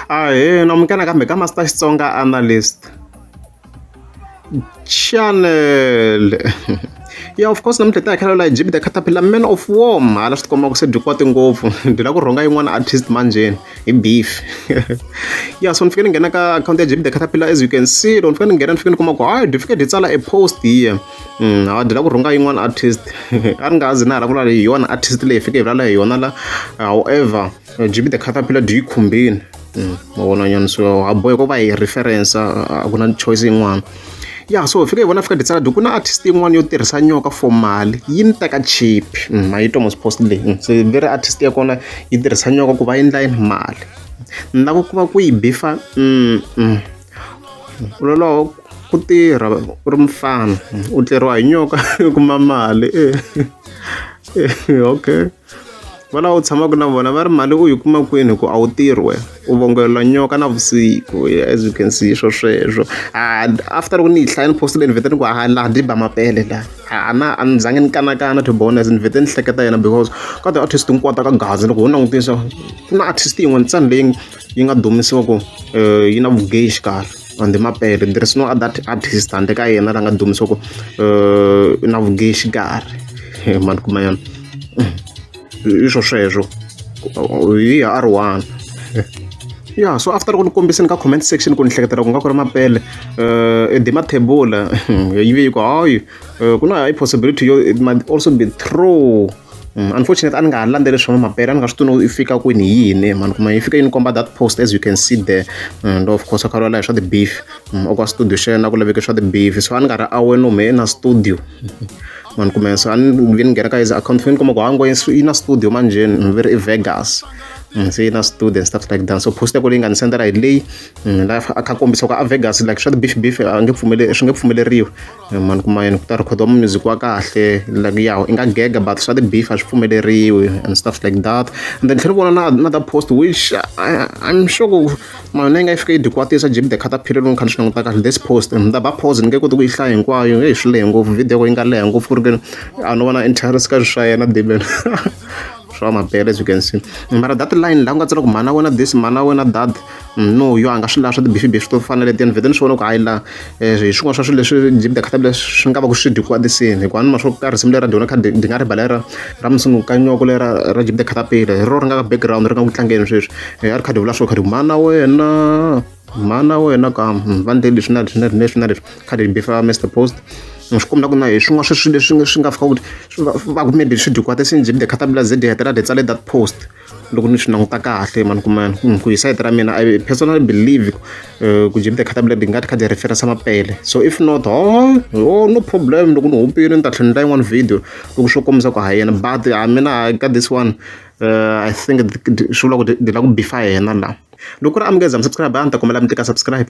Ahee, namukela kambe ka Master Xitsonga Analyst. Channel. ya of course namuntlha hi ta hi khalela jb the caterpillar man of warm hala swi tikomba ku se byi kwate ngopfu byi la ku rhonga yin'wana artist manjeni hi beef ya so ni fike ni nghena ka account ya jb the caterpillar as you can see loko ni fike ni nghena ni fike ni kuma ku hayi byi fike byi tsala a post here mm, hawa byi la ku rhonga yin'wana artist a ni nga zi na hala ku lala hi yona artist leyi fike hi vulala hi yona la however Jimmy the Caterpillar do yi khumbini ma vona nyana so ha bohe ku va hi reference a ku na choice yin'wana ya so fika hi vona fika ditsala ku na artist yin'wana yo tirhisa nyoka for mali yi ni teka cheap ma yi tomas post leyi se very artist ya kona yi tirhisa nyoka ku va endla yini mali ni lava ku va ku yi bifa lolowo ku tirha u ri mufana u tleriwa hi nyoka u kuma mali okay. va lava u tshamaka na vona va ri mali u yi kuma kwini hi ku a wu tirhi wena u vongelwa nyoka na vusiku as you can see swo sweswo a after loko ni yi hlaya ni postile ni vhete ni ku a laha ndi ba mapele laha a na a ni zange ni kanakana to bonus ni vhete ni hleketa yena because ka ti-artist hinkwato ka gazi loko ho langutisa ku na artist yin'we ntsena leyi yi nga dumisiwa ku yi na vugeyi xikarhi on the mapele there is no other artist handle ka yena la nga dumisa ku eh, na vuge xikarhi eh, mani kuma yona i swo sweswo hi r one ya so after ku ni kombiseni ka comment section ku ni hleketela ku nga ku ri mapele um eh, the mathebula yi ve yi ku hayi ku na high possibility yo it might also be true Unfortunately a ni nga ha landzeli swa mapere a ni nga swi tivi yi fika kwini hi yini mhani kuma yi fika yi ni komba that post as you can see there and of course kha lwala hi swa ti-beef mm, okwa studio xa yena ku laveke swa ti-beef so a ni nga ri awe no me na studio mani kume so a ni vi ni nghena ka his account fo ni kuma ku ha ngo yi na studio manjheni ni veri i vegas mm, se yi na studio and stuff like that so post yako leyi nga ni sendela hi leyi mm, la a kha kombisa ku a vegas like swa ti-beef beef a nge pfumele swi nge pfumeleriwi mani kuma yini ku ta rhikhoda music wa kahle like ya i nga gega but swa ti-beef a swi pfumeleriwi and stuff like that and then tlhela vona na na ta post which I, i'm sure ku mani yi nga yi fika yi dikwatisa jib the khata phiri loko kha ni swi languta kahle this post ni ta ba pause ni nge koti ku yi hlaya hinkwayo eyi swi lehe ngopfu video ko yi nga leha ngopfu ku ri ke a no vona interest ka swi swa yena deben swa mabele as you can see mara that line laha ku nga tsala ku mhana wena this mhana wena that munhu yo a nga swi lavi swa tibifibifi to fana leti ni vhete ni swi vona ku hayi laha um hi swin'wana swa swilo leswi jimida khata leswi swi nga va ku swi dyi kwatisini hikuva ni ma swo ka risimu leri ra dyona kha di nga rivala ra ra musungu ka nyoko lera ra jimida khata pile hi ro ri nga ka background ri nga ku tlangeni sweswi hi a ri kha di vula swo kha di mana wena mana wena ka hmm, va ndle leswi na leswi na leswi na leswi kha di bifa mr post swi kombela ku na hi swin'wana sweswi leswi swi nga fika ku swi va ku maybe swi dyi kwatisini jimida khata pila ze di hetelela di tsale that post loko ni swi languta kahle mhani ku mani ku hi sayiti ra mina i personally believe ku jim the khata blade ngati khadi reference mapele so if not ho ho no problem loko ni hupile ni ta tlhela ni ta yin'wana video loko swo kombisa ku ha yena but a mina ka this one uh, i think swi vula ku ni la ku bifa yena la loko ku ri amukeza mi subscribe a ni ta kombela mi tika subscribe